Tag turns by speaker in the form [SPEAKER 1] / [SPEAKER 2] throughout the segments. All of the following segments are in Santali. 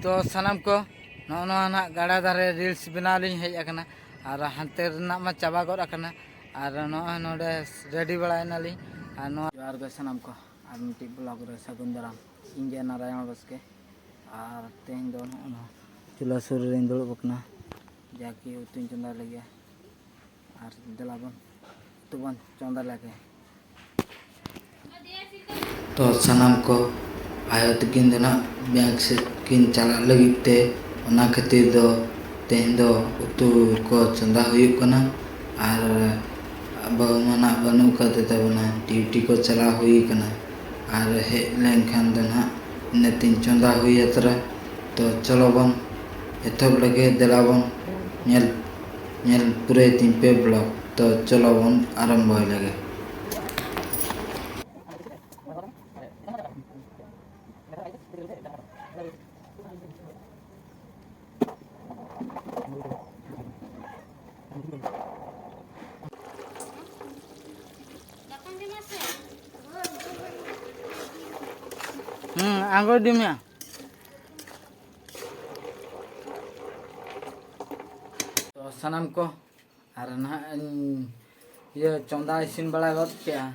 [SPEAKER 1] ᱛᱚ ᱥᱟᱱᱟᱢ ᱠᱚ ᱱᱚᱜᱼᱚ ᱱᱚᱣᱟ ᱱᱟᱜ ᱜᱟᱰᱟ ᱫᱷᱟᱨᱮ ᱨᱤᱞᱥ ᱵᱮᱱᱟᱣ ᱞᱤᱧ ᱦᱮᱡ ᱟᱠᱟᱱᱟ ᱟᱨ ᱦᱟᱱᱛᱮ ᱨᱮᱱᱟᱜ ᱢᱟ ᱪᱟᱵᱟ ᱜᱚᱫ ᱟᱠᱟᱱᱟ ᱟᱨ ᱱᱚᱜᱼᱚᱭ ᱱᱚᱰᱮ ᱨᱮᱰᱤ ᱵᱟᱲᱟᱭᱮᱱᱟᱞᱤᱧ ᱟᱨ ᱱᱚᱣᱟ ᱡᱚᱦᱟᱨ ᱜᱮ ᱥᱟᱱᱟᱢ ᱠᱚ ᱟᱨ ᱢᱤᱫᱴᱤᱡ ᱵᱞᱚᱜ ᱨᱮ ᱥᱟᱹᱜᱩᱱ ᱫᱟᱨᱟᱢ ᱤᱧ ᱜᱮ ᱱᱟᱨᱟᱭᱚᱱ ᱵᱟᱥᱠᱮ ᱟᱨ ᱛᱮᱦᱮᱧ ᱫᱚ ᱱᱚᱜᱼᱚ ᱱᱚᱣᱟ ᱪᱩᱞᱦᱟᱹ ᱥᱩᱨ ᱨᱮᱧ ᱫᱩᱲᱩᱵ ᱟᱠᱟᱱᱟ ᱡᱟᱠᱤ ᱩᱛᱩᱧ ᱪᱚᱸᱫᱟ ᱞᱟᱹᱜᱤᱫ ᱟᱨ ᱫᱮᱞᱟ ᱵᱚᱱ ᱩᱛᱩ ᱵᱚᱱ ᱪᱚᱸᱫᱟ ᱞᱮᱜᱮ ᱛᱚ ᱥᱟᱱᱟᱢ ᱠᱚ ᱟᱭᱳ ᱛᱟᱹᱠᱤᱱ ᱫᱚ ᱱᱟᱜ ᱵᱮᱝᱠ ᱥᱮᱫ ᱠᱤᱱ ᱪᱟᱞᱟᱜ ᱞᱟᱹᱜᱤᱫ ᱛᱮ ᱚᱱᱟ ᱠᱷᱟᱹᱛᱤᱨ ᱫᱚ ᱛᱮᱦᱮᱧ ᱫᱚ ᱩᱛᱩ ᱠᱚ ᱪᱚᱸᱫᱟ ᱦᱩᱭᱩᱜ ᱠᱟᱱᱟ ᱟᱨ ᱵᱟᱹᱦᱩ ᱢᱟ ᱱᱟᱜ ᱵᱟᱹᱱᱩᱜ ᱟᱠᱟᱫᱮ ᱛᱟᱵᱚᱱᱟ ᱰᱤᱭᱩᱴᱤ ᱠᱚ ᱪᱟᱞᱟᱣ ᱦᱩᱭ ᱟᱠᱟᱱᱟ ᱟᱨ ᱦᱮᱡ ᱞᱮᱱᱠᱷᱟᱱ ᱫᱚ ᱱᱟᱜ ᱤᱱᱟᱹ ᱛᱤᱧ ᱪᱚᱸᱫᱟ ᱦᱩᱭ ᱟᱛᱨᱟ ᱛᱚ ᱪᱚᱞᱚ ᱵᱚᱱ ᱮᱛᱚᱦᱚᱵ ᱞᱮᱜᱮ ᱫᱮᱞᱟ ᱵᱚᱱ ᱧᱮᱞ ᱧᱮᱞ ᱯᱩᱨᱟᱹᱭ ᱛᱤᱧ ᱯᱮ ᱵᱞᱚᱠ ᱛᱚ ᱪᱚᱞᱚ ᱵᱚᱱ ᱟᱨᱟᱢᱵᱷᱚᱭ ᱞᱮᱜᱮ ᱦᱮᱸ ᱟᱸᱜᱚᱭ ᱤᱫᱤ ᱢᱮᱭᱟ ᱛᱚ ᱥᱟᱱᱟᱢ ᱠᱚ ᱟᱨ ᱱᱟᱦᱟᱜ ᱤᱧ ᱤᱭᱟᱹ ᱪᱚᱸᱫᱟ ᱤᱥᱤᱱ ᱵᱟᱲᱟ ᱜᱚᱫ ᱠᱮᱜᱼᱟ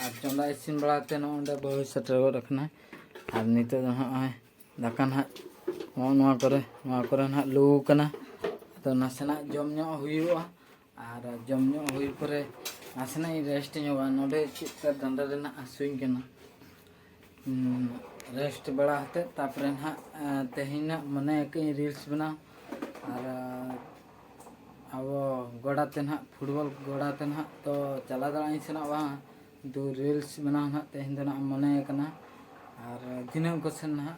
[SPEAKER 1] ᱟᱨ ᱪᱚᱸᱫᱟ ᱤᱥᱤᱱ ᱵᱟᱲᱟ ᱠᱟᱛᱮ ᱱᱚᱜᱼᱚᱭ ᱚᱸᱰᱮ ᱵᱟᱹᱦᱩᱭ ᱥᱮᱴᱮᱨ ᱜᱚᱫ ᱟᱠᱟᱱᱟ ᱟᱨ ᱱᱤᱛᱚᱜ ᱫᱚ ᱱᱚᱜᱼᱚᱭ ᱫᱟᱠᱟ ᱱᱟᱦᱟᱜ ᱱᱚᱜᱼᱚ ᱱᱚᱣᱟ ᱠᱚᱨᱮ ᱱᱚᱣᱟ ᱠᱚᱨᱮ ᱱᱟᱦᱟᱜ ᱞᱩ ᱠᱟᱱᱟ ᱟᱫᱚ ᱱᱟᱥᱮᱱᱟᱜ ᱡᱚᱢ ᱧᱚᱜ ᱦᱩᱭᱩᱜᱼᱟ ᱟᱨ ᱡᱚᱢ ᱧᱩ ᱦᱩᱭ ᱯᱚᱨᱮ ᱱᱟᱥᱮᱱᱟᱜ ᱤᱧ ᱨᱮᱥᱴ ᱧᱚᱜᱟ ᱱᱚᱰᱮ ᱪᱮᱫ ᱞᱮᱠᱟ ᱰᱟᱸᱰᱟ ᱨᱮᱱᱟᱜ ᱦᱟᱹᱥᱩᱧ ᱠᱟᱱᱟ ᱨᱮᱥᱴ ᱵᱟᱲᱟ ᱦᱟᱛᱮ ᱛᱟᱯᱚᱨᱮ ᱱᱟᱦᱟᱜ ᱛᱮᱦᱮᱧᱟᱜ ᱢᱚᱱᱮ ᱟᱠᱟᱫᱟᱹᱧ ᱨᱤᱞᱥ ᱵᱮᱱᱟᱣ ᱟᱨ ᱟᱵᱚ ᱜᱚᱰᱟᱛᱮ ᱱᱟᱦᱟᱜ ᱯᱷᱩᱴᱵᱚᱞ ᱜᱚᱰᱟᱛᱮ ᱱᱟᱦᱟᱜ ᱛᱚ ᱪᱟᱞᱟᱣ ᱫᱟᱲᱮᱭᱟᱜ ᱤᱧ ᱥᱮᱱᱚᱜ ᱵᱟᱝ ᱫᱩ ᱨᱤᱞᱥ ᱵᱮᱱᱟᱣ ᱱᱟᱦᱟᱜ ᱛᱮᱦᱮᱧ ᱫᱚ ᱱᱟᱦᱟᱜ ᱢᱚᱱᱮ ᱟᱠᱟᱱᱟ ᱟᱨ ᱫᱷᱤᱱᱟᱹᱝ ᱠᱚᱥᱮᱱ ᱱᱟᱦᱟᱜ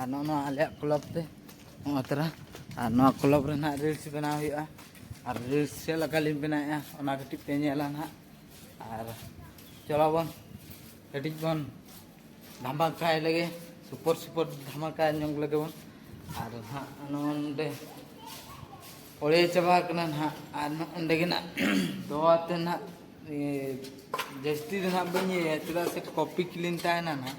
[SPEAKER 1] ᱟᱨ ᱱᱚᱜᱼᱚ ᱱᱚᱣᱟ ᱟᱞᱮᱭᱟᱜ ᱠᱞᱚᱵᱽ ᱛᱮ ᱱᱚᱜᱼᱚ ᱛᱚᱨᱟ ᱟᱨ ᱱᱚᱣᱟ ᱠᱞᱚᱵᱽ ᱨᱮ ᱱᱟᱦᱟᱜ ᱨᱤᱞᱥ ᱵᱮᱱᱟᱣ ᱦᱩᱭᱩᱜᱼᱟ ᱟᱨ ᱨᱤᱞᱥ ᱪᱮᱫ ᱞᱮᱠᱟ ᱞᱤᱧ ᱵᱮᱱᱟᱣᱮᱫᱼᱟ ᱚᱱᱟ ᱠᱟᱹᱴᱤᱡ ᱯᱮ ᱧᱮᱞᱟ ᱱᱟᱦᱟᱜ ᱟᱨ ᱪᱚᱞᱚ ᱵᱚᱱ ᱠᱟᱹᱴᱤᱡ ᱵᱚᱱ ᱫᱷᱟᱢᱟᱠᱟᱭ ᱞᱮᱜᱮ ᱥᱩᱯᱚᱨ ᱥᱩᱯᱚᱨ ᱫᱷᱟᱢᱟᱠᱟ ᱧᱚᱜ ᱞᱮᱜᱮ ᱵᱚᱱ ᱟᱨ ᱱᱟᱦᱟᱜ ᱱᱚᱰᱮ ᱚᱲᱮ ᱪᱟᱵᱟ ᱠᱟᱱᱟ ᱱᱟᱦᱟᱜ ᱟᱨ ᱱᱚᱰᱮ ᱜᱮ ᱱᱟᱦᱟᱜ ᱫᱚᱣᱟ ᱛᱮ ᱱᱟᱦᱟᱜ ᱡᱟᱹᱥᱛᱤ ᱫᱚ ᱱᱟᱦᱟᱜ ᱵᱟᱹᱧ ᱤᱭᱟᱹᱭᱟ ᱪᱮᱫᱟᱜ ᱥᱮ ᱠᱚᱯᱤ ᱠᱞᱤᱱ ᱛᱟᱦᱮᱱᱟ ᱱᱟᱦᱟᱜ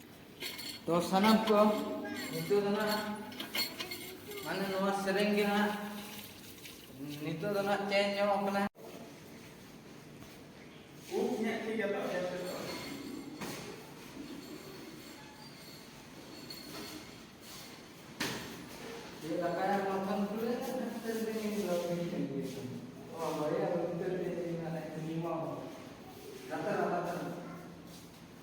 [SPEAKER 1] ᱛᱚ ᱥᱟᱱᱟᱢ ᱠᱚ ᱱᱤᱛᱚᱜ ᱫᱚ ᱱᱟᱜ ᱢᱟᱱᱮ ᱱᱚᱣᱟ ᱥᱮᱨᱮᱧ ᱜᱮ ᱱᱟᱜ ᱱᱤᱛᱚᱜ ᱫᱚ ᱱᱟᱜ ᱪᱮᱧᱡᱽ ᱧᱚᱜ ᱠᱟᱱᱟ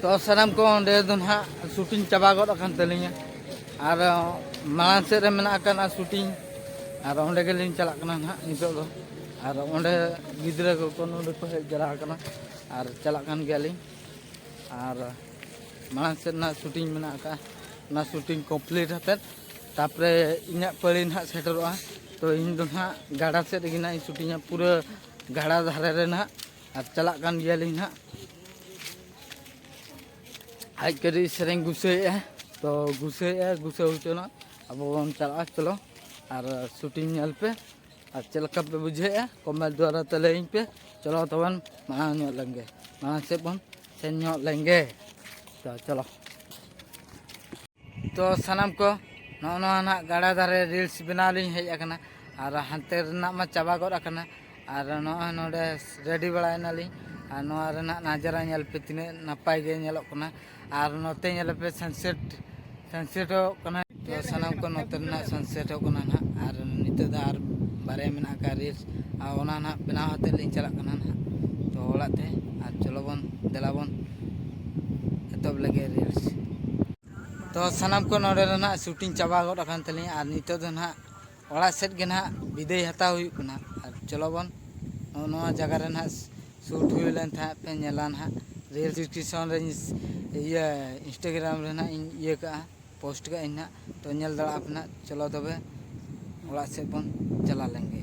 [SPEAKER 1] ᱛᱚ ᱥᱟᱱᱟᱢ ᱠᱚ ᱚᱸᱰᱮ ᱫᱚ ᱱᱟᱦᱟᱜ ᱥᱩᱴᱤᱝ ᱪᱟᱵᱟ ᱜᱚᱫ ᱟᱠᱟᱱ ᱛᱟᱹᱞᱤᱧᱟ ᱟᱨ ᱢᱟᱲᱟᱝ ᱥᱮᱫ ᱨᱮ ᱢᱮᱱᱟᱜ ᱟᱠᱟᱱᱟ ᱥᱩᱴᱤᱝ ᱟᱨ ᱚᱸᱰᱮ ᱜᱮᱞᱤᱧ ᱪᱟᱞᱟᱜ ᱠᱟᱱᱟ ᱱᱟᱦᱟᱜ ᱱᱤᱛᱚᱜ ᱫᱚ ᱟᱨ ᱚᱸᱰᱮ ᱜᱤᱫᱽᱨᱟᱹ ᱠᱚᱠᱚ ᱱᱚᱰᱮ ᱠᱚ ᱦᱮᱡ ᱡᱟᱣᱨᱟ ᱟᱠᱟᱱᱟ ᱟᱨ ᱪᱟᱞᱟᱜ ᱠᱟᱱ ᱜᱮᱭᱟᱞᱤᱧ ᱟᱨ ᱢᱟᱲᱟᱝ ᱥᱮᱫ ᱨᱮᱱᱟᱜ ᱥᱩᱴᱤᱝ ᱢᱮᱱᱟᱜ ᱟᱠᱟᱫᱼᱟ ᱚᱱᱟ ᱥᱩᱴᱤᱝ ᱠᱚᱢᱯᱞᱤᱴ ᱦᱟᱛᱮᱫ ᱛᱟᱨᱯᱚᱨᱮ ᱤᱧᱟᱹᱜ ᱯᱟᱹᱲᱤ ᱱᱟᱦᱟᱜ ᱥᱮᱴᱮᱨᱚᱜᱼᱟ ᱛᱚ ᱤᱧ ᱫᱚ ᱱᱟᱦᱟᱜ ᱜᱟᱰᱟ ᱥᱮᱫ ᱨᱮᱜᱮ ᱱᱟᱦᱟᱜ ᱤᱧ ᱥᱩᱴᱤᱝᱟ ᱯᱩᱨᱟᱹ ᱜᱟᱰᱟ ᱫᱷᱟᱨᱮ ᱨᱮ ᱱᱟᱦᱟᱜ ᱟᱨ ᱪᱟᱞᱟᱜ ᱠᱟᱱ ᱜᱮᱭᱟᱞᱤᱧ ᱱᱟᱦᱟᱜ ᱟᱡ ᱠᱟᱹᱴᱤᱡ ᱥᱮᱨᱮᱧ ᱜᱩᱥᱟᱹᱭᱮᱫᱼᱟ ᱛᱚ ᱜᱩᱥᱟᱹᱭᱮᱫᱼᱟ ᱜᱩᱥᱟᱹ ᱦᱚᱪᱚᱱᱟ ᱟᱵᱚ ᱵᱚᱱ ᱪᱟᱞᱟᱜᱼᱟ ᱪᱚᱞᱚ ᱟᱨ ᱥᱩᱴᱤᱝ ᱧᱮᱞ ᱯᱮ ᱟᱨ ᱪᱮᱫ ᱞᱮᱠᱟ ᱯᱮ ᱵᱩᱡᱷᱟᱹᱣᱮᱫᱼᱟ ᱠᱚᱢᱮᱱᱴ ᱫᱚᱣᱟᱨᱟ ᱛᱮ ᱞᱟᱹᱭᱟᱹᱧ ᱯᱮ ᱪᱚᱞᱚ ᱛᱚᱵᱮ ᱢᱟᱲᱟᱝ ᱧᱚᱜ ᱞᱮᱱᱜᱮ ᱢᱟᱲᱟᱝ ᱥᱮᱫ ᱵᱚᱱ ᱥᱮᱱ ᱧᱚᱜ ᱞᱮᱱᱜᱮ ᱛᱚ ᱪᱚᱞᱚ ᱛᱚ ᱥᱟᱱᱟᱢ ᱠᱚ ᱱᱚᱜᱼᱚ ᱱᱚᱣᱟ ᱱᱟᱜ ᱜᱟᱰᱟ ᱫᱷᱟᱨᱮ ᱨᱤᱞᱥ ᱵᱮᱱᱟᱣ ᱞᱤᱧ ᱦᱮᱡ ᱟᱠᱟᱱᱟ ᱟᱨ ᱦᱟᱱᱛᱮ ᱨᱮᱱᱟᱜ ᱢᱟ ᱪᱟᱵᱟ ᱜᱚᱫ ᱟᱠᱟᱱᱟ ᱟᱨ ᱱᱚᱜᱼᱚᱭ ᱱᱚᱰᱮ ᱨᱮᱰᱤ ᱵᱟᱲᱟᱭᱮᱱᱟᱞᱤᱧ ᱟᱨ ᱱᱚᱣᱟ ᱨᱮᱱᱟᱜ ᱱᱟᱡᱟᱨᱟ ᱧᱮᱞ ᱯᱮ ᱛᱤᱱᱟᱹᱜ ᱱᱟᱯᱟᱭ ᱜᱮ ᱧᱮᱞᱚᱜ ᱠᱟᱱᱟ ᱟᱨ ᱱᱚᱛᱮ ᱧᱮᱞ ᱯᱮ ᱥᱟᱱᱥᱮᱴ ᱥᱟᱱᱥᱮᱴ ᱦᱚᱸ ᱠᱟᱱᱟ ᱥᱟᱱᱟᱢ ᱠᱚ ᱱᱚᱛᱮ ᱨᱮᱱᱟᱜ ᱥᱟᱱᱥᱮᱴ ᱦᱚᱸ ᱠᱟᱱᱟ ᱱᱟᱦᱟᱜ ᱟᱨ ᱱᱤᱛᱚᱜ ᱫᱚ ᱟᱨ ᱵᱟᱨᱭᱟ ᱢᱮᱱᱟᱜ ᱟᱠᱟᱫ ᱨᱤᱞᱥ ᱟᱨ ᱚᱱᱟ ᱱᱟᱦᱟᱜ ᱵᱮᱱᱟᱣ ᱦᱟᱛᱮᱫ ᱞᱤᱧ ᱪᱟᱞᱟᱜ ᱠᱟᱱᱟ ᱱᱟᱦᱟᱜ ᱛᱚ ᱚᱲᱟᱜ ᱛᱮ ᱟᱨ ᱪᱚᱞᱚ ᱵᱚᱱ ᱫᱮᱞᱟ ᱵᱚᱱ ᱮᱛᱚᱦᱚᱵ ᱞᱮᱜᱮ ᱨᱤᱞᱥ ᱛᱚ ᱥᱟᱱᱟᱢ ᱠᱚ ᱱᱚᱰᱮ ᱨᱮᱱᱟᱜ ᱥᱩᱴᱤᱝ ᱪᱟᱵᱟ ᱜᱚᱫ ᱟᱠᱟᱱ ᱛᱟᱹᱞᱤᱧᱟ ᱟᱨ ᱱᱤᱛᱚᱜ ᱫᱚ ᱱᱟᱦᱟᱜ ᱚᱲᱟᱜ ᱥᱮᱫ ᱜᱮ ᱱᱟᱦᱟᱜ ᱵᱤᱫᱟᱹᱭ ᱦᱟᱛᱟᱣ ᱦᱩᱭᱩᱜ ᱠᱟᱱᱟ ᱟᱨ ᱪᱚᱞᱚ ᱵᱚᱱ ᱱᱚᱜᱼᱚ ᱱᱚᱣᱟ ᱡᱟᱭᱜᱟ ᱨᱮ ᱱᱟᱦᱟᱜ ᱥᱩᱴ ᱦᱩᱭ ᱞᱮᱱ ᱠᱷᱟᱱ ᱯᱮ ᱧᱮᱞᱟ ᱱᱟᱦᱟᱜ ᱨᱮᱹᱞ ᱴᱮᱥᱚᱱ ᱨᱮ ᱤᱭᱟᱹ ᱤᱱᱥᱴᱟᱜᱨᱟᱢ ᱨᱮ ᱱᱟᱦᱟᱜ ᱤᱧ ᱤᱭᱟᱹ ᱠᱟᱜᱼᱟ ᱯᱳᱥᱴ ᱠᱟᱜ ᱟᱹᱧ ᱱᱟᱦᱟᱜ ᱛᱚ ᱧᱮᱞ ᱫᱟᱲᱮᱭᱟᱜ ᱟᱯᱮ ᱱᱟᱦᱟᱜ ᱪᱚᱞᱚ ᱛᱚᱵᱮ ᱚᱲᱟᱜ ᱥᱮᱫ ᱵᱚᱱ ᱪᱟᱞᱟᱣ ᱞᱮᱱᱜᱮ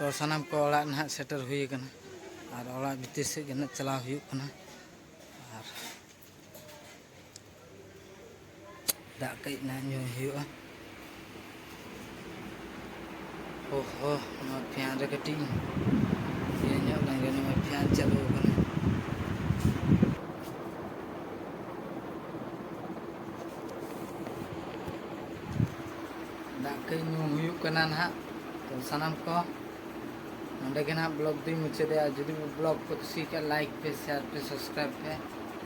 [SPEAKER 1] ᱛᱚ ᱥᱟᱱᱟᱢ ᱠᱚ ᱚᱲᱟᱜ ᱱᱟᱦᱟᱜ ᱥᱮᱴᱮᱨ ᱦᱩᱭ ᱟᱠᱟᱱᱟ ᱟᱨ ᱚᱲᱟᱜ ᱵᱷᱤᱛᱤᱨ ᱥᱮᱫ ᱜᱮ ᱱᱟᱦᱟᱜ ᱪᱟᱞᱟᱣ ᱦᱩᱭᱩᱜ ᱠᱟᱱᱟ ᱟᱨ ᱫᱟᱜ ᱠᱟᱹᱡ ᱱᱟᱦᱟᱜ ᱧᱩ ᱦᱩᱭᱩᱜᱼᱟ ᱦᱚ ᱦᱚ ᱱᱚᱣᱟ ᱯᱷᱮᱱ ᱨᱮ ᱠᱟᱹᱴᱤᱡ ᱤᱭᱟᱹ ᱧᱚᱜ ᱞᱮᱱ ᱜᱮ ᱱᱚᱜᱼᱚᱭ ᱯᱷᱮᱱ ᱪᱟᱹᱞᱩ ᱟᱠᱟᱱᱟ ᱫᱟᱜ ᱠᱟᱹᱡ ᱧᱩ ᱦᱩᱭᱩᱜ ᱠᱟᱱᱟ ᱱᱟᱦᱟᱜ ᱛᱚ ᱥᱟᱱᱟᱢ ᱠᱚ ᱱᱚᱰᱮ ᱜᱮ ᱱᱟᱦᱟᱜ ᱵᱞᱚᱜ ᱫᱚᱧ ᱢᱩᱪᱟᱹᱫᱮᱜᱼᱟ ᱡᱩᱫᱤ ᱵᱞᱚᱜ ᱯᱮ ᱠᱩᱥᱤ ᱠᱟᱜ ᱞᱟᱭᱤᱠ ᱯᱮ ᱥᱮᱭᱟᱨ ᱯᱮ ᱥᱟᱵᱥᱠᱨᱟᱭᱤᱵ ᱯᱮ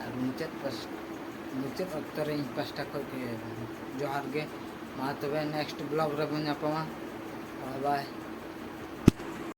[SPEAKER 1] ᱟᱨ ᱢᱩᱪᱟᱹᱫ ᱢᱩᱪᱟᱹᱫ ᱚᱠᱛᱚ ᱨᱮ ᱤᱧ ᱯᱟᱥᱴᱟ ᱠᱷᱚᱱ ᱜᱮ ᱡᱚᱦᱟᱨ ᱜᱮ ᱢᱟ ᱛᱚᱵᱮ ᱱᱮᱠᱥᱴ ᱵᱞᱚᱜ ᱨᱮᱵᱚᱱ ᱧᱟᱯᱟᱢᱟ ᱵᱟᱭ ᱵᱟᱭ